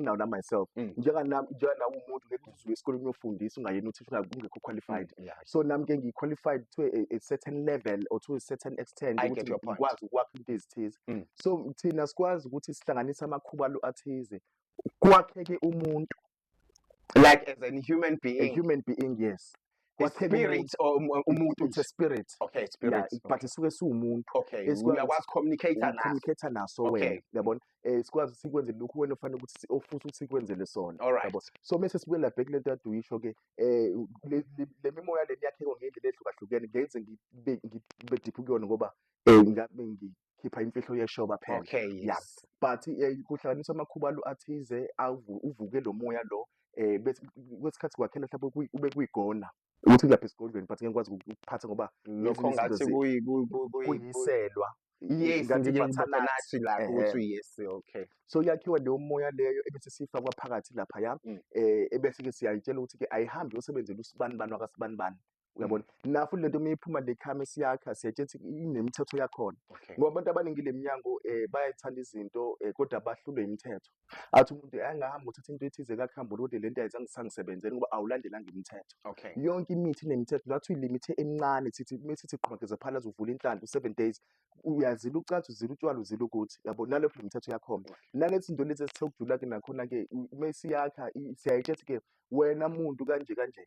nginawo na myself Mm. njenga nami njenga nawe umuntu ngeke usuke esikoleni uyofundisa ungayena uthisha unga- ungekho qualified Mm, yeah. so nami ke ngiyi-qualified to a, a certain level or to a certain extent I ukuthi get your point. ngikwazi ukwakha into ezithize Mm. so thina sikwazi ukuthi sihlanganise amakhuba alo athize kwakheke umuntu like as a human a being human being yes spirit or um, umuntu uthi spirit okay spirit yeah, but isuke siwumuntu okay uyakwazi communicate naso communicate naso wena yabona eh sikwazi sikwenze lokhu wena ufanele ukuthi ofuse ukuthi sikwenzele sona yabo so mase sibuye la back lento adu yisho ke eh le mimoya le yakhe ngendlela ehlukahlukene ngenze ngibe ngibe deep kuyona ngoba eh ngabe ngi khipha imfihlo yeshoba phela okay yes yeah. but eh, kuhlanganisa amakhuba lo athize uvuke lo moya lo eh kwesikhathi kwakhela mhlawumbe ube kuyigona ukuthi kulapha esigodlweni but ngeke ngikwazi ukuphatha ngoba lokho ngathi kuyiselwa yes ngibathanasi la ukuthi yes okay so yakhiwa leyo moya leyo ebese sifakwa phakathi lapha ya mm. eh ebese ke siyayitshela ukuthi ke ayihambi yosebenzela usibani bani wakasibani bani uyabona mm. nafu lento uma iphuma le khame siyakha siyatshetha inemithetho yakhona ngoba abantu abaningi le mnyango um eh, bayayithanda izinto um kodwa bahlulwe imithetho athi umuntu angahambi uthatha into ethize kakuhambula kodwa le nto ayizange sangisebenzeli ngoba awulandelanga imithetho yonke imithi inemithetho ngathi uyilimithe emincane thithi uma sithi qhumageza phalaza uvula inhlanhla u-seven days uyazila ucansi uzila utshwala uzila ukuthi yabo nalokho le mithetho yakhona nalethi nto lezi esithe ukujula-ke nakhona-ke uma siyakha siyayitshethi-ke wena muntu kanje kanje.